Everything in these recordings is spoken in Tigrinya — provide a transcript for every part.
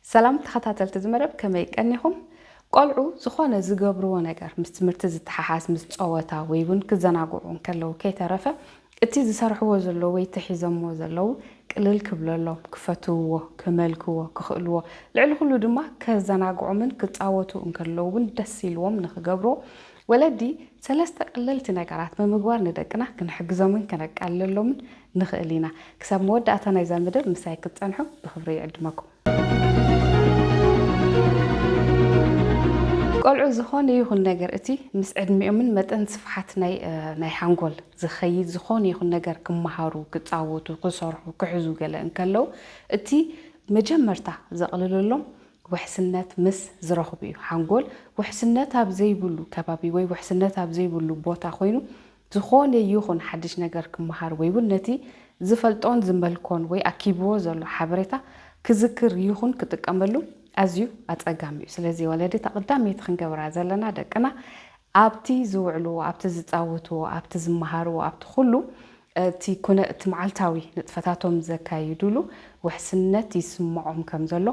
ሰላም ተኸታተልቲ እዚ መደብ ከመይ ቀኒኹም? ቆልዑ ዝኾነ ዝገብርዎ ነገር ምስ ትምህርቲ ዝተሓሓዝ ምስ ጸወታ ወይ እውን ክዘናግዑ እንከለዉ ከይተረፈ እቲ ዝሰርሕዎ ዘለዉ ወይ ተሒዘምዎ ዘለዉ ቅልል ክብለሎም፣ ክፈትውዎ፣ ከመልክዎ ክኽእልዎ ልዕሊ ኩሉ ድማ ከዘናግዖምን ክጻወቱ እንከለዉ እውን ደስ ኢልዎም ንኽገብርዎ ወለዲ ሰለስተ ቀለልቲ ነገራት ብምግባር ንደቅና ክንሕግዞምን ከነቃልለሎምን ንኽእል ኢና። ክሳብ መወዳእታ ናይዛ መደብ ምሳይ ክትጸንሑ ብኽብሪ ይዕድመኩም። ቆልዑ ዝኾነ ይኹን ነገር እቲ ምስ ዕድሚኦምን መጠን ስፍሓት ናይ ናይ ሓንጎል ዝኸይድ ዝኾነ ይኹን ነገር ክመሃሩ፣ ክጻወቱ፣ ክሰርሑ፣ ክሕዙ ገለ እንከለው እቲ መጀመርታ ዘቕልለሎም ውሕስነት ምስ ዝረኽቡ እዩ። ሓንጎል ውሕስነት ኣብ ዘይብሉ ከባቢ ወይ ውሕስነት ኣብ ዘይብሉ ቦታ ኮይኑ ዝኾነ ይኹን ሓድሽ ነገር ክመሃር ወይ ውን ነቲ ዝፈልጦን ዝመልኮን ወይ ኣኪብዎ ዘሎ ሓበሬታ ክዝክር ይኹን ክጥቀመሉ ኣዝዩ ኣጸጋሚ እዩ። ስለዚ ወለዲ እታ ቀዳመይቲ ክንገብራ ዘለና ደቅና ኣብቲ ዝውዕልዎ፣ ኣብቲ ዝጻወትዎ፣ ኣብቲ ዝመሃርዎ፣ ኣብቲ ኩሉ እቲ ኩነ እቲ መዓልታዊ ንጥፈታቶም ዘካይዱሉ ውሕስነት ይስመዖም ከም ዘሎ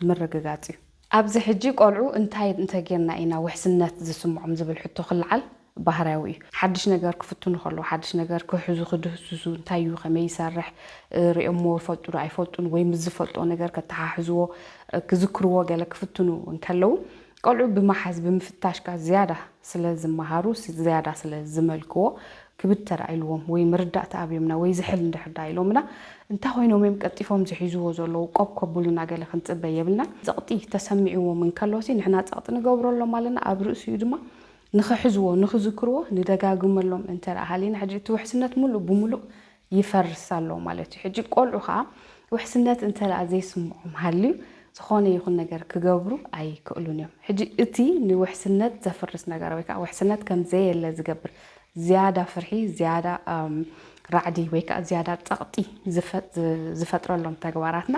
ምርግጋጽ እዩ። ኣብዚ ሕጂ ቆልዑ እንታይ እንተጌርና ኢና ውሕስነት ዝስምዖም ዝብል ሕቶ ክለዓል ባህርያዊ እዩ። ሓድሽ ነገር ክፍትኑ ከለዉ፣ ሓድሽ ነገር ክሕዙ፣ ክድህስሱ፣ እንታይ እዩ፣ ከመይ ይሰርሕ፣ ርእዮምዎ ይፈልጡዶ ኣይፈልጡን ወይ ምስ ዝፈልጥዎ ነገር ከተሓሕዝዎ፣ ክዝክርዎ ገለ ክፍትኑ እንከለዉ፣ ቆልዑ ብመሓዝ ብምፍታሽካ ዝያዳ ስለ ዝመሃሩ፣ ዝያዳ ስለ ዝመልክዎ ክብድ ተራኢልዎም ወይ መረዳእታ ኣብዮምና ወይ ዝሕል እንድሕር ደኣ ኢሎምና እንታይ ኮይኖም እዮም ቀልጢፎም ዝሒዝዎ ዘለዉ ቆብ ከብሉና ገለ ክንጽበ የብልናን። ጸቕጢ ተሰሚዕዎም እንከሎሲ ንሕና ጸቕጢ ንገብረሎም ኣለና ኣብ ርእሲኡ ድማ ንኽሕዝዎ ንኽዝክርዎ ንደጋግመሎም እንተ ደኣ ሃሊና ሕጂ እቲ ውሕስነት ምሉእ ብምሉእ ይፈርስ ኣሎ ማለት እዩ። ሕጂ ቆልዑ ከኣ ውሕስነት እንተ ዘይስምዖም ሃልዩ ዝኾነ ይኹን ነገር ክገብሩ ኣይክእሉን እዮም። ሕጂ እቲ ንውሕስነት ዘፍርስ ነገር ወይ ከዓ ውሕስነት ከም ዘየለ ዝገብር ዝያዳ ፍርሒ፣ ዝያዳ ራዕዲ ወይ ከዓ ዝያዳ ጸቕጢ ዝፈጥረሎም ተግባራትና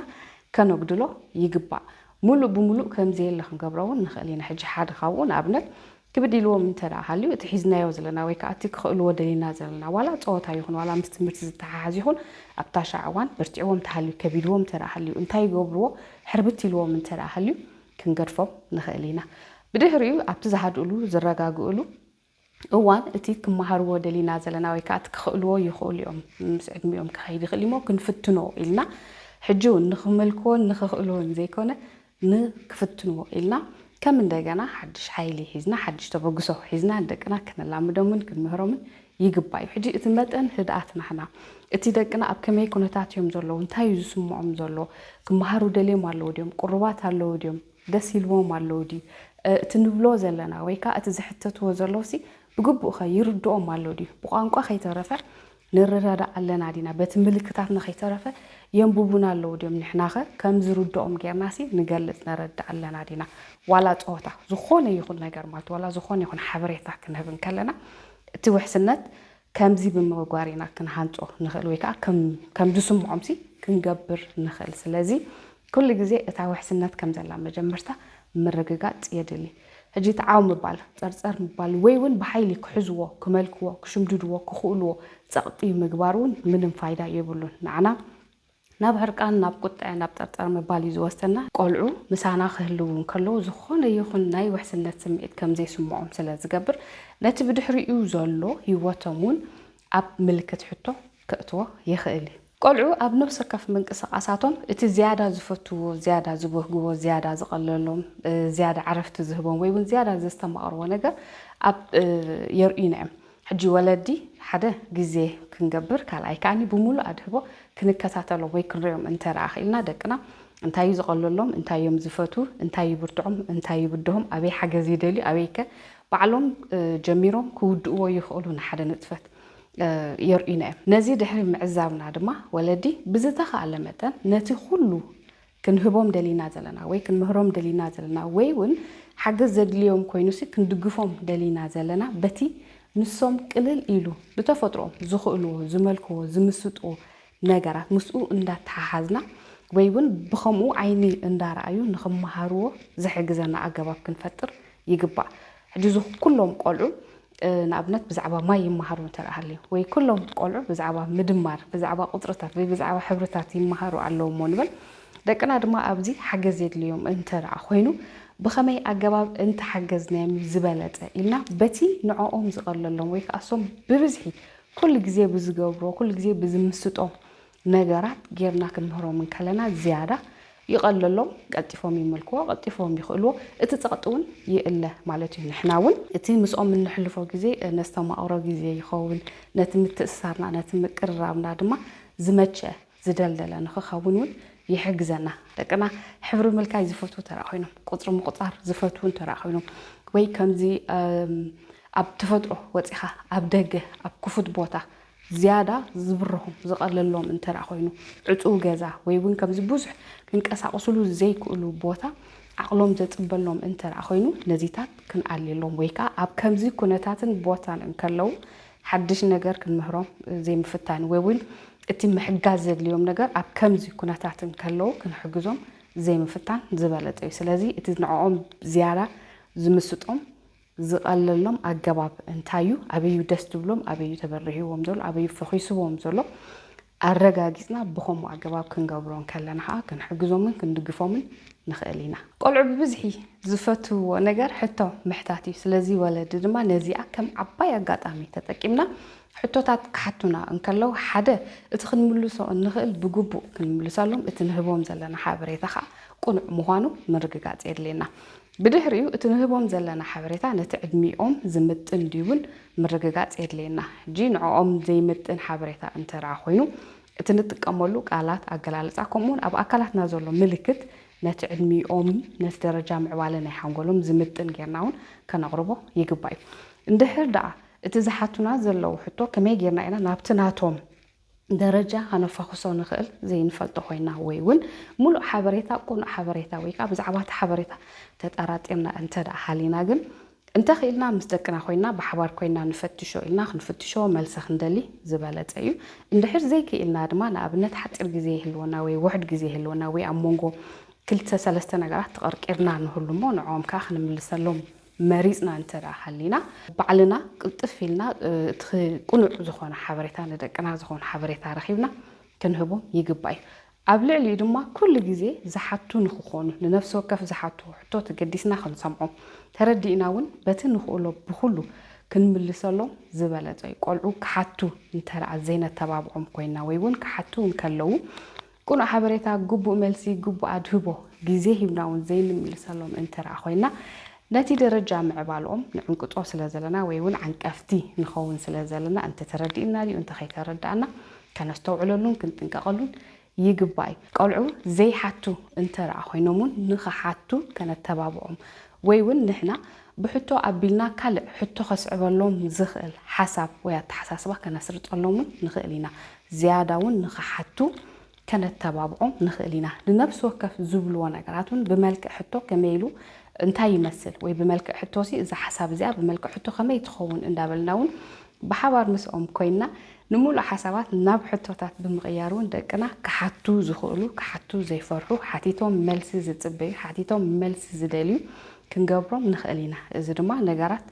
ከነጉድሎ ይግባእ። ሙሉእ ብሙሉእ ከም ዘየለ ክንገብሮ እውን ንኽእል ኢና። ሕጂ ሓደ ካብኡ ንኣብነት ክብድ ኢልዎም እንተ ደኣ ሃልዩ፣ እቲ ሒዝናዮ ዘለና ወይ ከኣ እቲ ክኽእልዎ ደሊና ዘለና ዋላ ጸወታ ይኹን ዋላ ምስ ትምህርቲ ዝተሓሓዝ ይኹን ኣብታ ሻዕ እዋን በርቲዕዎም እንተ ሃልዩ ከቢድዎም እንተ ደኣ ሃልዩ እንታይ ይገብርዎ ሕርብት ኢልዎም እንተ ደኣ ሃልዩ ክንገድፎም ንኽእል ኢና። ብድሕሪኡ ኣብቲ ዝሃድእሉ ዝረጋግእሉ እዋን እቲ ክመሃርዎ ደሊና ዘለና ወይ ከኣ እቲ ክኽእልዎ ይኽእሉ እዮም ምስ ዕድሚኦም ክኸይድ ይኽእል እዩሞ ክንፍትኖ ኢልና ሕጂ ውን ንኽመልክዎን ንኽኽእልዎን ዘይኮነ ን ክፍትንዎ ኢልና ከም እንደገና ሓድሽ ሓይሊ ሒዝና ሓድሽ ተበግሶ ሒዝና ንደቅና ክነላምዶምን ክንምህሮምን ይግባእ እዩ። ሕጂ እቲ መጠን ህድኣት ናህና እቲ ደቅና ኣብ ከመይ ኩነታት እዮም ዘለዉ እንታይ እዩ ዝስምዖም ዘሎ ክመሃሩ ደልዮም ኣለዉ ድዮም ቅሩባት ኣለዉ ድዮም ደስ ኢልዎም ኣለዉ ድዩ እቲ ንብሎ ዘለና ወይ ከኣ እቲ ዝሕተትዎ ዘለዉ ሲ ብግቡእ'ኸ ይርድኦም ኣሎ ድዩ ብቋንቋ ከይተረፈ ንረዳዳእ ኣለና ዲና በቲ ምልክታትና ከይተረፈ የንቡቡና ኣለዉ ድዮም ንሕናኸ ከም ዝርድኦም ጌርናሲ ንገልጽ ነረድእ ኣለና ዲና ዋላ ጸወታ ዝኾነ ይኹን ነገር ማለት ዋላ ዝኾነ ይኹን ሓበሬታ ክንህብ እንከለና እቲ ውሕስነት ከምዚ ብምግባር ኢና ክንሃንጾ ንኽእል ወይ ከኣ ከም ዝስምዖምሲ ክንገብር ንኽእል ስለዚ ኩሉ ግዜ እታ ውሕስነት ከም ዘላ መጀመርታ ምርግጋጽ የድሊ። ሕጂ እቲ ዓው ምባል፣ ጸርጸር ምባል ወይ ውን ብሓይሊ ክሕዝዎ፣ ክመልክዎ፣ ክሽምድድዎ ክኽእልዎ ጸቕጢ ምግባር ውን ምንም ፋይዳ የብሉን። ንዓና ናብ ሕርቃን፣ ናብ ቁጠዐ፣ ናብ ጸርጸር ምባል እዩ ዝወስደና። ቆልዑ ምሳና ክህልዉ እንከለዉ ዝኾነ ይኹን ናይ ውሕስነት ስምዒት ከም ዘይስምዖም ስለ ዝገብር ነቲ ብድሕሪኡ ዘሎ ህይወቶም ውን ኣብ ምልክት ሕቶ ከእትዎ ይኽእል እዩ። ቆልዑ ኣብ ነብስ ወከፍ ምንቅስቓሳቶም እቲ ዝያዳ ዝፈትውዎ፣ ዝያዳ ዝበህግዎ፣ ዝያዳ ዝቐለሎም፣ ዝያዳ ዕረፍቲ ዝህቦም ወይ እውን ዝያዳ ዘስተማቕርዎ ነገር ኣብ የርእዩና እዮም። ሕጂ ወለዲ ሓደ ግዜ ክንገብር ካልኣይ ከኣ ብምሉእ ኣድህቦ ክንከታተሎም ወይ ክንርእዮም እንተደኣ ክኢልና ደቅና እንታይ እዩ ዝቐለሎም፣ እንታይ እዮም ዝፈትዉ፣ እንታይ ይብርትዖም፣ እንታይ ይብድሆም፣ ኣበይ ሓገዝ ይደልዩ፣ ኣበይከ ባዕሎም ጀሚሮም ክውድእዎ ይኽእሉ ንሓደ ንጥፈት የርእዩና እዮም። ነዚ ድሕሪ ምዕዛብና ድማ ወለዲ ብዝተኻእለ መጠን ነቲ ኩሉ ክንህቦም ደሊና ዘለና ወይ ክንምህሮም ደሊና ዘለና ወይ እውን ሓገዝ ዘድልዮም ኮይኑሲ ክንድግፎም ደሊና ዘለና በቲ ንሶም ቅልል ኢሉ ብተፈጥሮኦም ዝኽእልዎ፣ ዝመልክዎ፣ ዝምስጥዎ ነገራት ምስኡ እንዳተሓሓዝና ወይ ውን ብኸምኡ ዓይኒ እንዳረኣዩ ንኽመሃርዎ ዝሕግዘና ኣገባብ ክንፈጥር ይግባእ። ሕጂ እዚ ኩሎም ቆልዑ ንኣብነት ብዛዕባ ማይ ይመሃሩ እንተ ሃልዩ ወይ ኩሎም ቆልዑ ብዛዕባ ምድማር፣ ብዛዕባ ቁጽርታት ወይ ብዛዕባ ሕብርታት ይመሃሩ ኣለዉ እሞ ንበል። ደቅና ድማ ኣብዚ ሓገዝ የድልዮም እንተ ኮይኑ ብኸመይ ኣገባብ እንተሓገዝናዮም እዩ ዝበለጸ ኢልና በቲ ንዖኦም ዝቐለሎም ወይ ከኣ እሶም ብብዝሒ ኩሉ ግዜ ብዝገብሮ ኩሉ ግዜ ብዝምስጦ ነገራት ጌርና ክንምህሮም እንከለና ዝያዳ ይቐለሎም፣ ቀልጢፎም ይምልክዎ፣ ቀልጢፎም ይኽእልዎ፣ እቲ ጸቕጢ እውን ይእለ ማለት እዩ። ንሕና እውን እቲ ምስኦም እነሕልፎ ግዜ ነስተማቕሮ ግዜ ይኸውን፣ ነቲ ምትእስሳርና ነቲ ምቅርራብና ድማ ዝመቸ ዝደልደለ ንክኸውን እውን ይሕግዘና። ደቅና ሕብሪ ምልካይ ዝፈትዉ ተረኣ ኮይኖም፣ ቁፅሪ ምቑፃር ዝፈትዉ እንተረኣ ኮይኖም፣ ወይ ከምዚ ኣብ ተፈጥሮ ወፂኻ ኣብ ደገ ኣብ ክፉት ቦታ ዝያዳ ዝብርሆም ዝቐለሎም እንተረኣ ኮይኑ፣ ዕፁው ገዛ ወይ እውን ከምዚ ብዙሕ ክንቀሳቕስሉ ዘይክእሉ ቦታ ዓቕሎም ዘፅበሎም እንተረኣ ኮይኑ ነዚታት ክንኣልየሎም ወይ ከዓ ኣብ ከምዚ ኩነታትን ቦታን እንከለዉ ሓድሽ ነገር ክንምህሮም ዘይምፍታን ወይ እውን እቲ ምሕጋዝ ዘድልዮም ነገር ኣብ ከምዚ ኩነታት እንከለዉ ክንሕግዞም ዘይምፍታን ዝበለጸ እዩ። ስለዚ እቲ ንዕኦም ዝያዳ ዝምስጦም ዝቐለሎም ኣገባብ እንታይ እዩ? ኣበይ እዩ ደስ ዝብሎም? ኣበይ እዩ ተበሪህዎም ዘሎ? ኣበይ እዩ ፈኺስዎም ዘሎ? ኣረጋጊጽና ብኸምኡ ኣገባብ ክንገብሮ እንከለና ከኣ ክንሕግዞምን ክንድግፎምን ንኽእል ኢና። ቆልዑ ብብዝሒ ዝፈትውዎ ነገር ሕቶ ምሕታት እዩ። ስለዚ ወለዲ ድማ ነዚኣ ከም ዓባይ ኣጋጣሚ ተጠቂምና ሕቶታት ክሓቱና እንከለው ሓደ እቲ ክንምልሶ እንኽእል ብግቡእ ክንምልሰሎም እቲ ንህቦም ዘለና ሓበሬታ ከኣ ቅኑዕ ምዃኑ ምርግጋጽ የድልየና። ብድሕሪኡ እቲ ንህቦም ዘለና ሓበሬታ ነቲ ዕድሚኦም ዝምጥን ድዩ'ውን ምርግጋጽ የድልየና። ጂ ንዕኦም ዘይምጥን ሓበሬታ እንተድኣ ኮይኑ፣ እቲ ንጥቀመሉ ቃላት፣ ኣገላልጻ፣ ከምኡ'ውን ኣብ ኣካላትና ዘሎ ምልክት ነቲ ዕድሚኦምን ነቲ ደረጃ ምዕባለ ናይ ሓንጎሎም ዝምጥን ጌርና'ውን ከነቕርቦ ይግባእ'ዩ። እንድሕር ድኣ እቲ ዝሓቱና ዘለዉ ሕቶ ከመይ ጌርና ኢና ናብቲ ናቶም። ደረጃ ከነፋኹሶ ንኽእል ዘይንፈልጦ ኮይና ወይ ውን ሙሉእ ሓበሬታ ቁኑዕ ሓበሬታ ወይ ከኣ ብዛዕባ እቲ ሓበሬታ ተጣራጢርና እንተ ደኣ ሃሊና ግን እንተ ኽኢልና ምስ ደቅና ኮይና ብሓባር ኮይና ንፈትሾ ኢልና ክንፍትሾ መልሲ ክንደሊ ዝበለጸ እዩ። እንድሕር ዘይክኢልና ድማ ንኣብነት ሓጺር ግዜ ይህልወና ወይ ውሑድ ግዜ ይህልወና ወይ ኣብ ሞንጎ ክልተ ሰለስተ ነገራት ተቐርቂርና ንህሉ እሞ ንዕኦም ከኣ ክንምልሰሎም መሪጽና እንተ ደኣ ሃሊና ባዕልና ቅልጥፍ ኢልና እቲ ቅኑዕ ዝኾነ ሓበሬታ ንደቅና ዝኾን ሓበሬታ ረኺብና ክንህቦም ይግባእ እዩ። ኣብ ልዕሊኡ ድማ ኩሉ ግዜ ዝሓቱ ንኽኾኑ ንነፍሲ ወከፍ ዝሓትዎ ሕቶ ተገዲስና ክንሰምዖም ተረዲእና እውን በቲ ንኽእሎ ብኹሉ ክንምልሰሎም ዝበለጸ እዩ። ቆልዑ ክሓቱ እንተ ደኣ ዘይነተባብዖም ኮይንና ወይ እውን ክሓቱ እንከለዉ ቅኑዕ ሓበሬታ ግቡእ መልሲ ግቡእ ኣድህቦ ግዜ ሂብና ውን ዘይንምልሰሎም እንትርኣ ኮይና ነቲ ደረጃ ምዕባልኦም ንዕንቅጾ ስለ ዘለና ወይ ውን ዓንቀፍቲ ንኸውን ስለ ዘለና እንተ ተረዲእና ድዩ እንተ ከይተረዳእና ከነስተውዕለሉን ክንጥንቀቐሉን ይግባእ እዩ። ቆልዑ ዘይሓቱ እንትርኣ ኮይኖም ውን ንኽሓቱ ከነተባብዖም ወይ ውን ንሕና ብሕቶ ኣቢልና ካልእ ሕቶ ከስዕበሎም ዝኽእል ሓሳብ ወይ ኣተሓሳስባ ከነስርጸሎም ውን ንኽእል ኢና። ዝያዳ እውን ንኽሓቱ ከነተባብዖም ንኽእል ኢና። ንነፍሲ ወከፍ ዝብልዎ ነገራት እውን ብመልክዕ ሕቶ ከመይ ኢሉ እንታይ ይመስል ወይ ብመልክዕ ሕቶሲ እዛ ሓሳብ እዚኣ ብመልክዕ ሕቶ ከመይ ትኸውን እንዳበልና እውን ብሓባር ምስኦም ኮይንና ንምሉእ ሓሳባት ናብ ሕቶታት ብምቕያር እውን ደቅና ክሓቱ ዝኽእሉ፣ ክሓቱ ዘይፈርሑ፣ ሓቲቶም መልሲ ዝጽበዩ፣ ሓቲቶም መልሲ ዝደልዩ ክንገብሮም ንኽእል ኢና። እዚ ድማ ነገራት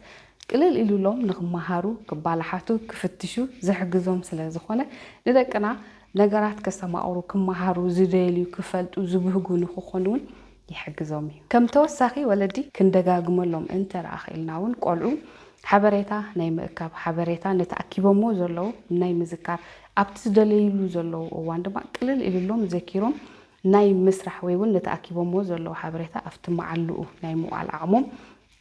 ቅልል ኢሉሎም ንኽመሃሩ፣ ክባላሓቱ፣ ክፍትሹ ዝሕግዞም ስለ ዝኾነ፣ ንደቅና ነገራት ከስተማቕሩ፣ ክመሃሩ ዝደልዩ፣ ክፈልጡ ዝብህጉ ንኽኾኑ'ውን ይሕግዞም እዩ። ከም ተወሳኺ ወለዲ ክንደጋግመሎም እንተ ደኣ ክኢልና'ውን ቆልዑ ሓበሬታ ናይ ምእካብ፣ ሓበሬታ ነቲ ኣኪቦምዎ ዘለዉ ናይ ምዝካር፣ ኣብቲ ዝደለይሉ ዘለዉ እዋን ድማ ቅልል ኢሉሎም ዘኪሮም ናይ ምስራሕ ወይ'ውን ነቲ ኣኪቦምዎ ዘለዉ ሓበሬታ ኣብቲ መዓልኡ ናይ ምውዓል ዓቕሞም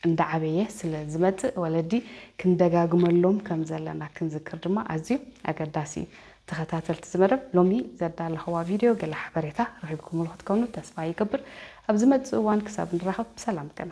እንዳዓበየ ስለ ዝመጽእ ወለዲ ክንደጋግመሎም ከም ዘለና ክንዝክር ድማ ኣዝዩ ኣገዳሲ እዩ። ተኸታተልቲ እዚ መደብ ሎሚ ዘዳለኽዋ ቪድዮ ገለ ሓበሬታ ረኺብኩምሉ ክትኮኑ ተስፋ ይገብር። ኣብ ዝመጽእ እዋን ክሳብ ንራኸብ ብሰላም ቅነ።